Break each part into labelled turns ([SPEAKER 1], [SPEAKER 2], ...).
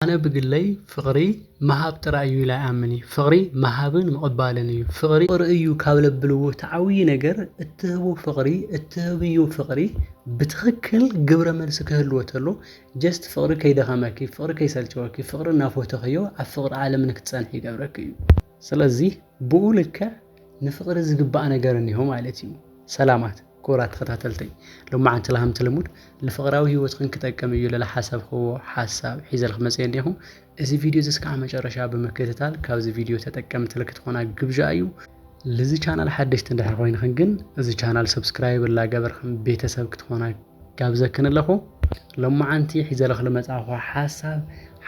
[SPEAKER 1] ኣነ ብግለይ ፍቅሪ ምሃብ ጥራይ እዩ ኢለ ኣይኣምን እዩ ፍቅሪ ምሃብን ምቅባልን እዩ ፍቅሪ ፍቅሪ እዩ ካብ ለብልዎ እቲ ዓብይ ነገር እትህቦ ፍቅሪ እትህብዮ ፍቅሪ ብትክክል ግብረ መልሲ ክህልዎ ተሎ ጀስት ፍቅሪ ከይደከመኪ ፍቅሪ ከይሰልቸወኪ ፍቅሪ እናፎተክዮ ኣብ ፍቅሪ ዓለም ንክትፀንሒ ይገብረኪ እዩ ስለዚ ብኡ ልክዕ ንፍቕሪ ዝግባእ ነገር እኒሆ ማለት እዩ። ሰላማት ክቡራት ተኸታተልተይ ሎማዓንቲ ላሃምቲ ልሙድ ልፍቕራዊ ህይወትኽን ክጠቅም እዩ ልልሓሰብኽዎ ሓሳብ ሒዘልክ መፅየ እኒኹ እዚ ቪድዮ እዚ እስካዕ መጨረሻ ብምክትታል ካብዚ ቪድዮ ተጠቀምቲ ልክትኾና ግብዣ እዩ ልዚ ቻናል ሓደሽቲ እንድሕር ኾይንኽን ግን እዚ ቻናል ሰብስክራይብ እላገበርኽን ቤተሰብ ክትኾና ጋብዘኪ ንለኹ ሎማዓንቲ ሒዘለኺ ልመጻኹ ሓሳብ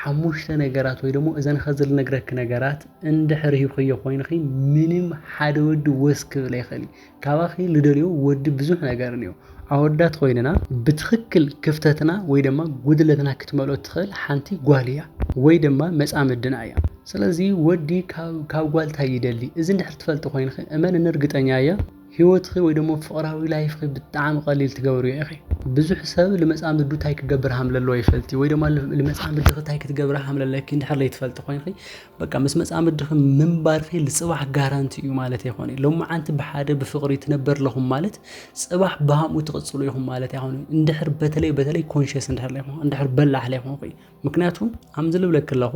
[SPEAKER 1] ሓሙሽተ ነገራት ወይ ደሞ እዘን ኸዚ ልነግረኪ ነገራት እንድሕር ሂብኽዮ ኮይንኺ ምንም ሓደ ወዲ ወስ ክብል ኣይኽእል እዩ ካባኺ ልደልዮ ወዲ ብዙሕ ነገር እንዮ ኣወዳት ኮይንና ብትኽክል ክፍተትና ወይ ደማ ጉድለትና ክትመልኦ እትኽእል ሓንቲ ጓል እያ ወይ ደማ መጻምድና እያ ስለዚ ወዲ ካብ ጓል ታይ ይደሊ እዚ እንድሕር ትፈልጢ ኮይንኺ እመንኒ ርግጠኛ እየ ሂወትኺ ወይ ደሞ ፍቕራዊ ላይፍኺ ብጣዕሚ ቐሊል ትገብርዮ ኢኺ። ብዙሕ ሰብ ልመጻምዱ ታይ ክገብር ሃምለለዎ ይፈልጥዩ ወይ ደማ ልመጻምድኺ ታይ ክትገብሪ ሃምለለኪ እንድሕር ለይትፈልጢ ኮይንኺ በቃ ምስ መጻምድኺ ምንባርኺ ልጽባሕ ጋራንቲ እዩ ማለት ኣይኮነይ ሎማዓንቲ ብሓደ ብፍቕሪ ትነበር ለኹም ማለት ጽባሕ ብሃምኡ ትቕጽሉ ኢኹም ማለት ኣይኮነይ እንድሕር በተለይ በተለይ ኮንሸስ እንድሕር ለይኹም እንድሕር በላሕ ለይኹምኺ ምክንያቱ ሃምዚ ልብለኪ ለኹ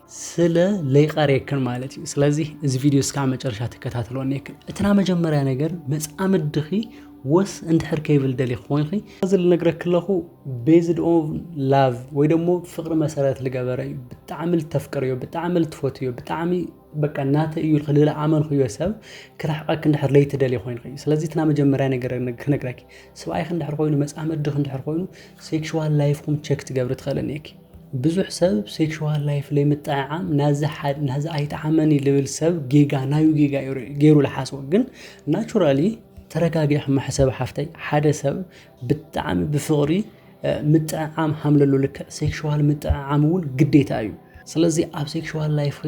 [SPEAKER 1] ስለ ለይቀርየክን ማለት እዩ ስለዚ እዚ ቪድዮ እስካብ መጨረሻ ትከታተልዎ ነክን እትና መጀመርያ ነገር መፃምድኺ ወስ እንድሕር ከይብል ደሊ ኮይንኺ እዚ ልነግረክ ኣለኹ ቤዝድ ኦን ላቭ ወይ ደሞ ፍቅሪ መሰረት ልገበረ እዩ ብጣዕሚ ልተፍቅርዮ ብጣዕሚ ልትፈትዮ ብጣዕሚ በቃ እናተ እዩ ልክ ልለኣመንክዮ ሰብ ክርሕቀክ እንድሕር ለይትደሊ ኮይንኺ እዩ ስለዚ እትና መጀመርያ ነገር ክነግረኪ ስብኣይክ እንድሕር ኮይኑ መፃምድኽ እንድሕር ኮይኑ ሴክሽዋል ላይፍኩም ቸክ ትገብሪ ትኽእልኒ እኪ ብዙሕ ሰብ ሴክሹዋል ላይፍ ለይምጥዕዓም ናዚ ሓድ ናዚ ኣይትዓመኒ ልብል ሰብ ጌጋ ናዩ ጌጋ እዩ ር- ገይሩ ልሓስቦ ግን ናቹራሊ ተረጋጊሕ ማሕሰብ ሓፍተይ ሓደ ሰብ ብጣዕሚ ብፍቕሪ እ፣ ምጥዕዓም ሃምለሉ ልክዕ ሴክሹዋል ምጥዕዓም እውን ግዴታ እዩ ስለዚ ኣብ ሴክሹዋል ላይፍኺ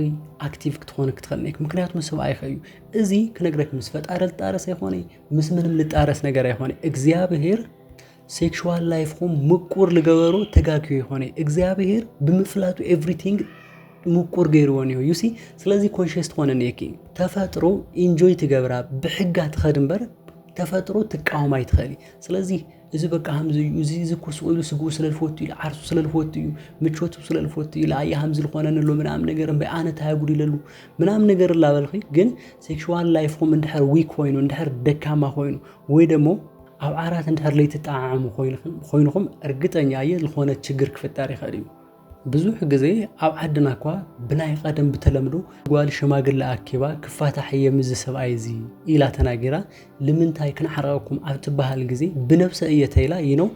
[SPEAKER 1] ኣክቲቭ ክትኾኒ ክትኽእል ኔክ ምክንያቱ ምስ ሰብኣይኺ እዩ እዚ ክነግረክ ምስ ፈጣሪ ልጣረስ ኣይኮነይ ምስ ምንም ልጣረስ ነገር ኣይኮነይ እግዚኣብሄር ሴክሹዋል ላይፍኹም ምቁር ልገበሮ ተጋግዮ ይኾነ እዩ እግዚኣብሄር ብምፍላጡ ኤቭሪቲንግ ምቁር ገይርዎ እኒሆ ዩሲ ስለዚ ኮንሽስ ትኾነ እኒሄኪ ተፈጥሮ ኢንጆይ ትገብራ ብሕጋ ትኸድ እምበር ተፈጥሮ ትቃወም ኣይትኽእሊ ስለዚ እዚ በቃ ከምዚ እዩ እዚ እዚ እኮ ስቕ ኢሉ ስግኡ ስለ ዝፈቱ እዩ ዓርሱ ስለ ዝፈቱ እዩ ምቾቱ ስለ ዝፈቱ እዩ ለኣየ ከምዚ ዝኾነኒ ኣሎ ምናምን ነገር እምበይ ኣነ እንታይ ኣጉዲለሉ ምናምን ነገር እላበልኺ ግን ሴክሽዋል ላይፍኹም እንድሕር ዊክ ኮይኑ እንድሕር ደካማ ኮይኑ ወይ ደሞ ኣብ ዓራት እንድሕር ለይትጠዓዓሙ ኮይንኹም እርግጠኛ እየ ዝኾነ ችግር ክፍጠር ይኽእል እዩ። ብዙሕ ግዜ ኣብ ዓድና እኳ ብናይ ቐደም ብተለምዶ ጓል ሽማግለ ኣኪባ ክፋታሕ እየ ምዚ ሰብኣይ እዚ ኢላ ተናጊራ ልምንታይ ክንዓርቐኩም ኣብ ትበሃል ግዜ ብነብሰ እየ ተይላ ይነው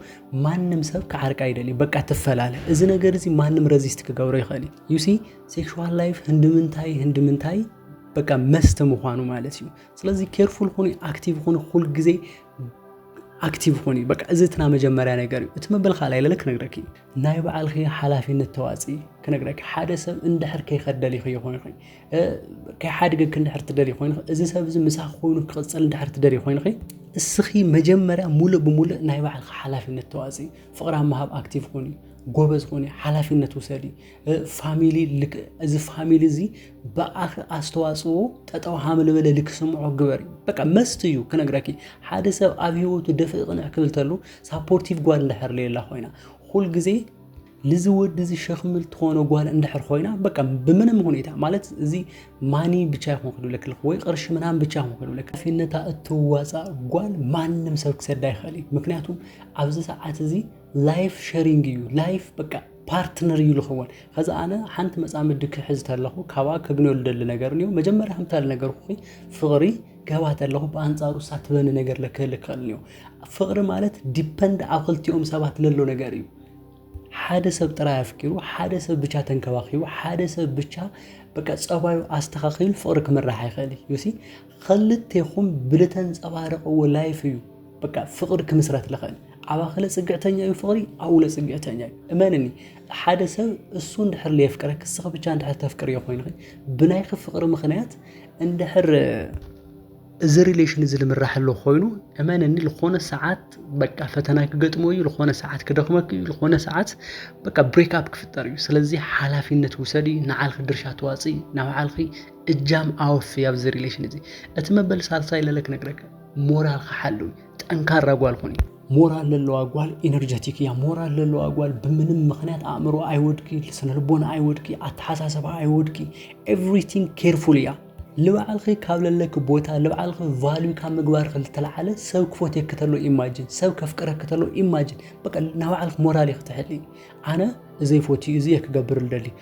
[SPEAKER 1] ማንም ሰብ ክዓርቃ ይደልዩ በቃ ትፈላለ እዚ ነገር እዚ ማንም ረዚስት ክገብሮ ይኽእል እዩ ዩሲ ሴክሹዋል ላይፍ ህንድምንታይ ህንድምንታይ በቃ መስት ምዃኑ ማለት እዩ። ስለዚ ኬርፉል ኹኒ ኣክቲቭ ኹኒ ኩል ግዜ ኣክቲቭ ኹኒ በቃ እዚ እትና መጀመርያ ነገር እዩ እቲ መበል ካልኣይ ለለ ክነግረኪ ናይ በዓልኺ ሓላፊነት ተዋፂ ክነግረኪ ሓደ ሰብ እንድሕር ከይኸደሊ ይኾይኑ ከይሓድገኪ እንድሕር ትደሊ ኮይኑ እዚ ሰብ እዚ ምሳኺ ኮይኑ ክቕፅል እንድሕር ትደሊ ኮይኑ እስኺ መጀመርያ ሙሉእ ብሙሉእ ናይ በዓልኺ ሓላፊነት ተዋፂ ፍቕራ ምሃብ ኣክቲቭ ኹኒ ጎበዝ ኹኒ ሓላፊነት ውሰዲ ፋሚሊ ልክ እዚ ፋሚሊ እዚ ብኣኺ ኣስተዋፅኦ ጠጠው ሃምልበለ ልክስምዖ ግበሪ በቃ መስት እዩ ክነግረኪ ሓደ ሰብ ኣብ ሂወቱ ደፍእ ቅንዕ ክብል ተሉ ሳፖርቲቭ ጓል እንድሕር ሌላ ኮይና ኩል ግዜ ንዚ ወዲ እዚ ሸክሚ ትኾኖ ጓል እንድሕር ኮይና በቃ ብምንም ሁኔታ ማለት እዚ ማኒ ብቻ ይኹን ክድብለክ ልክ ወይ ቅርሺ ምናምን ብቻ ይኹን ክድብለክ ፊነታ እትዋፃ ጓል ማንም ሰብ ክሰዳ ይኽእል እዩ ምክንያቱም ኣብዚ ሰዓት እዚ ላይፍ ሸሪንግ እዩ ላይፍ በቃ ፓርትነር እዩ ዝኸውን ከዚ ኣነ ሓንቲ መፃምዲ ክሕዝ ተለኹ ካብኣ ከግንዮ ዝደሊ ነገር እኒኦ መጀመርያ ከምታ ነገርኩ ፍቕሪ ገባ ተለኹ ብኣንፃሩ እሳ ትበኒ ነገር ለክህል ክኽእል እኒኦ ፍቕሪ ማለት ዲፐንድ ኣብ ክልቲኦም ሰባት ለሎ ነገር እዩ ሓደ ሰብ ጥራይ ኣፍቂሩ ሓደ ሰብ ብቻ ተንከባኺቡ ሓደ ሰብ ብቻ በቃ ፀባዩ ኣስተኻኺሉ ፍቕሪ ክምራሕ ይኽእል እዩ ሲ ኸልቴኹም ብልተንጸባረቕዎ ላይፍ እዩ በቃ ፍቕሪ ክምስረት ልኽእል ዓባ ክለ ጽግዕተኛ እዩ ፍቕሪ ኣብኡለ ጽግዕተኛ እዩ እመንኒ ሓደ ሰብ እሱ እንድሕር ለየፍቅረ ክስኺ ብቻ እንድሕር ተፍቅርዮ ኮይንኺ ብናይኺ ፍቕሪ ምኽንያት እንድሕር እዚ ሪሌሽን እዚ ልምራሕ ኣሎ ኮይኑ እመንኒ ዝኾነ ሰዓት በቃ ፈተና ክገጥሞ እዩ ዝኾነ ሰዓት ክደኽመክ እዩ ዝኾነ ሰዓት በቃ ብሬክ ኣፕ ክፍጠር እዩ ስለዚ ሓላፊነት ውሰዲ ንዓልኺ ድርሻ ተዋፅኢ ናብ ዓልኺ እጃም ኣወፍይ ኣብዚ ሪሌሽን እዚ እቲ መበል ሳልሳይ ለለ ክነግረካ ሞራልካ ሓልው ጠንካራ ጓል ኹኒ ሞራል ለለዋ ጓል ኢነርጀቲክ እያ ሞራል ለለዋ ጓል ብምንም ምክንያት ኣእምሮ ኣይወድቂ ስነልቦና ኣይወድቂ ኣተሓሳሰባ ኣይወድቂ ኤቭሪቲንግ ኬርፉል እያ ልባዕልኺ ካብ ለለኪ ቦታ ልባዕልኺ ቫልዩ ካብ ምግባርኺ ዝተለዓለ ሰብ ክፎትየኪ ተሎ ኢማጅን ሰብ ከፍቅረኪ ተሎ ኢማጅን በቃ ናባዕልኪ ሞራል እየ ክትሕሊ ኣነ እዘይ ፎትዩ እዚ እየ ክገብር ልደሊ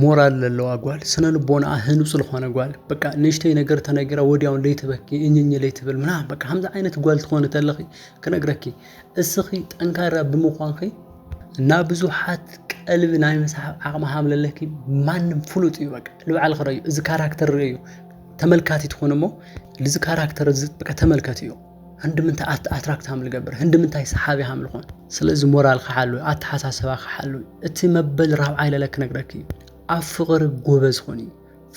[SPEAKER 1] ሞራል ለለዋ ጓል ስነ ልቦናኣ ህኑፅ ልኾነ ጓል በቃ ንእሽተይ ነገር ተነጊራ ወዲያውን ለይትበኪ እኝኝ ለይትብል ምና በቃ ከምዚ ዓይነት ጓል ትኾነ ተለኺ ክነግረኪ እስኺ ጠንካራ ብምዃንኺ እና ብዙሓት ቀልቢ ናይ ምሳሓብ ዓቕሚ ሃም ለለኪ ማንም ፍሉጥ እዩ በቃ ልበዓል ክረዩ እዚ ካራክተር ረዩ ተመልካቲ ትኾነ እሞ ልዚ ካራክተር እዚ በቃ ተመልከት እዩ ህንድምንታይ ኣትራክት ሃም ልገብር ህንድምንታይ ሰሓቢ ሃም ልኾን ስለዚ ሞራል ክሓሉ ኣተሓሳሰባ ክሓሉ እቲ መበል ራብዓይ ለለ ክነግረክ እዩ ኣብ ፍቕሪ ጎበዝ ኾን እዩ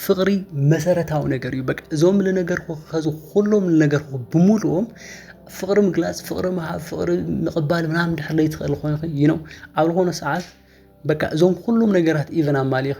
[SPEAKER 1] ፍቕሪ መሰረታዊ ነገር እዩ በቃ እዞም ልነገርኩ ከዚ ኩሎም ልነገርኩ ብምሉኦም ፍቕሪ ምግላፅ ፍቕሪ ምሃብ ፍቕሪ ምቕባል ምናምን ድሕር ለይትኽእል ኮይኑ እዩ ነው ኣብ ዝኾነ ሰዓት በቃ እዞም ኩሎም ነገራት ኢቨን ኣማሊኺ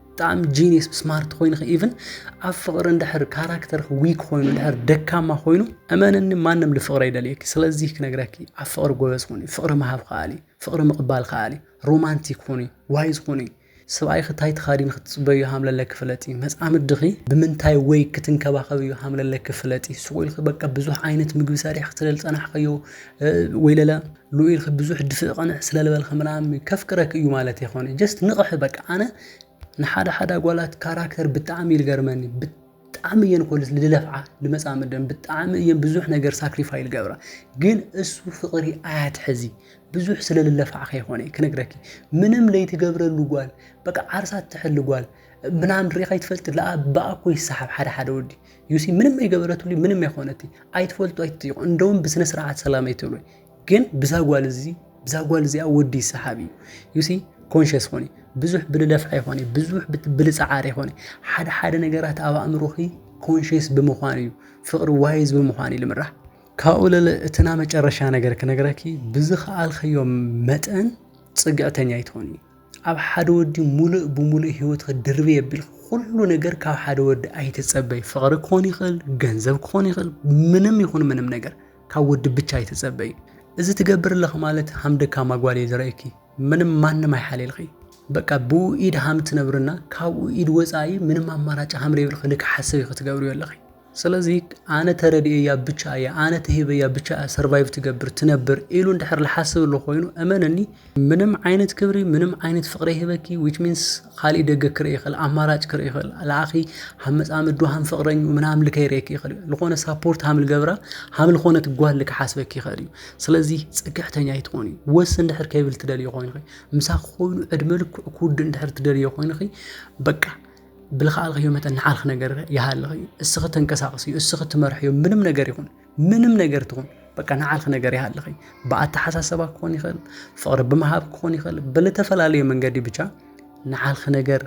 [SPEAKER 1] ብጣዕሚ ጂኒየስ ስማርት ኮይንኺ ኢቭን ኣብ ፍቕሪ እንድሕር ካራክተርኺ ዊክ ኮይኑ እንድሕር ደካማ ኮይኑ እመንኒ ማንም ልፍቕሪ ኣይደልየኪ ስለዚ ክነግረኪ ኣብ ፍቕሪ ጎበዝ ኩኒ ፍቕሪ ምሃብ ከኣሊ ፍቕሪ ምቕባል ከኣሊ ሮማንቲክ ኩኒ ዋይዝ ኩኒ ሰብኣይኺ እንታይ ተኻዲን ክትፅበዩ ሃምለለኪ ፍለጢ መፃምድኺ ብምንታይ ወይ ክትንከባኸብዩ ሃምለለኪ ፍለጢ ሱቕ ኢልኪ በቃ ብዙሕ ዓይነት ምግቢ ሰሪሕ ክትደል ፀናሕኸዮ ወይ ለለ ሉኡ ኢልኪ ብዙሕ ድፍእ ቅንዕ ስለ ልበልኪ ምናምን ከፍቅረኪ እዩ ማለት ኣይኮነ ጀስት ንቕሒ በቃ ኣነ ንሓደ ሓደ ኣጓላት ካራክተር ብጣዕሚ ይልገርመኒ ብጣዕሚ እየን እኮ ልለፍዓ ልመፃምደን ብጣዕሚ እየን ብዙሕ ነገር ሳክሪፋይ ልገብራ ግን እሱ ፍቕሪ ኣያትሕዚ ብዙሕ ስለ ልለፍዓ ከይኮነ ክነግረኪ ምንም ለይትገብረሉ ጓል በቃ ዓርሳ ትሕሊ ጓል ምናምን ሪኢኻ ይትፈልጥ ለኣ ብኣ እኮ ይሰሓብ ሓደ ሓደ ወዲ ዩሲ ምንም ኣይገበረትሉ ምንም ኣይኮነቲ ኣይትፈልጡ ኣይትጥይቁ እንደውም ብስነ ስርዓት ሰላም ኣይትብሉ ግን ብዛ ጓል እዚ ብዛ ጓል እዚኣ ወዲ ይሰሓብ እዩ ዩሲ ኮንሽስ ኾኒ ብዙሕ ብልለፍዓ ይኾነ ብዙሕ ብልፀዓር ይኾነ ሓደ ሓደ ነገራት ኣብ ኣእምሮኺ ኮንሽስ ብምዃን እዩ ፍቕሪ ዋይዝ ብምዃን እዩ ልምራሕ ካብኡ ለለ እትና መጨረሻ ነገር ክነግረኪ ብዝኸኣልከዮ መጠን ፅግዕተኛ ይትኾኒ ኣብ ሓደ ወዲ ሙሉእ ብሙሉእ ሂወትኺ ድርብይ ኣቢልኪ ኩሉ ነገር ካብ ሓደ ወዲ ኣይትጸበይ። ፍቕሪ ክኾን ይኽእል፣ ገንዘብ ክኾን ይኽእል፣ ምንም ይኹን ምንም ነገር ካብ ወዲ ብቻ ኣይትጸበይ። እዚ ትገብር ኣለኺ ማለት ሃም ደካማ ጓል እየ ዝርእየኪ። ምንም ማንም ኣይሓልየልኺ። በቃ ብኡ ኢድ ሃም ትነብርና ካብኡ ኢድ ወጻኢ ምንም ኣማራጭ ሃም ደይብልኺ ልክዕ ሓሰብ ኢኺ ትገብርዮ ኣለኺ። ስለዚ ኣነ ተረዲኤያ ብቻ እያ ኣነ ተሂበያ ብቻ እያ ሰርቫይቭ ትገብር ትነብር ኢሉ እንድሕር ልሓስብ ኣሎ ኮይኑ እመነኒ ምንም ዓይነት ክብሪ ምንም ዓይነት ፍቅሪ ይህበኪ ዊች ሚንስ ካሊእ ደገ ክርኢ ይኽእል ኣማራጭ ክርኢ ይኽእል ልኣኺ ሃብ መጻምዱ ሃም ፍቅረኙ ምናምን ልከይርኤኪ ይኽእል እዩ ልኾነ ሳፖርት ሃም ልገብራ ሃም ልኾነት ጓል ልክሓስበኪ ይኽእል እዩ ስለዚ ጽግዕተኛ ይትኾኒ ወስ እንድሕር ከይብል ትደልዮ ኮይንኺ ምሳኺ ኮይኑ ዕድመ ልክዑ ክውድእ እንድሕር ትደልዮ ኮይንኺ በቃ ብልኸኣልክዮ መጠን ንዓኽ ነገር ይሃልኽ እዩ እስኺ ተንቀሳቕስ እዩ እስኺ ትመርሕ እዩ ምንም ነገር ይኹን ምንም ነገር ትኹን በቃ ንዓልክ ነገር ይሃልኽ እዩ ብኣተሓሳሰባ ክኾን ይኽእል ፍቕሪ ብምሃብ ክኾን ይኽእል ብልተፈላለዩ መንገዲ ብቻ ንዓልክ ነገር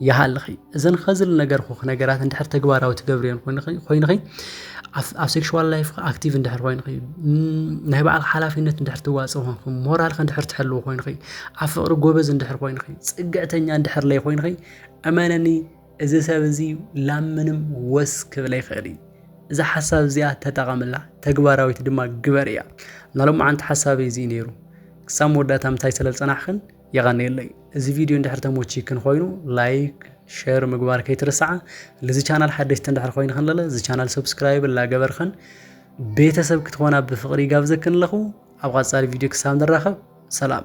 [SPEAKER 1] ይሃልኺ እዘን ኸዝል ነገር ኹ ነገራት እንድሕር ተግባራዊ ትገብርዮን ኮይንኺ ኣብ ሴክሽዋል ላይፍ ኣክቲቭ እንድሕር ኮይንኺ ናይ በዓል ሓላፊነት እንድሕር ትዋፅ ኾንኪ ሞራልክ እንድሕር ትሕልው ኮይንኺ ኣብ ፍቕሪ ጎበዝ እንድሕር ኮይንኺ ፅግዕተኛ እንድሕር ለይ ኮይንኺ እመነኒ እዚ ሰብ እዚ ላብ ምንም ወስ ክብል ኣይክእል እዩ እዛ ሓሳብ እዚኣ ተጠቐምላ ተግባራዊት ድማ ግበር እያ ናሎም መዓንቲ ሓሳብ እዚ እዩ ነይሩ ክሳብ መወዳእታ ምንታይ ስለ ዝጸናሕክን የቐንየለይ እዚ ቪድዮ እንድሕር ተሞቺክን ኮይኑ ላይክ ሸር ምግባር ከይትርስዓ ልዚ ቻናል ሓደሽቲ እንድሕር ኮይንክን ለለ እዚ ቻናል ሰብስክራይብ ላገበርክን ቤተሰብ ክትኾና ብፍቕሪ ይጋብዘክን ኣለኹ ኣብ ቐጻሊ ቪድዮ ክሳብ ንራኸብ ሰላም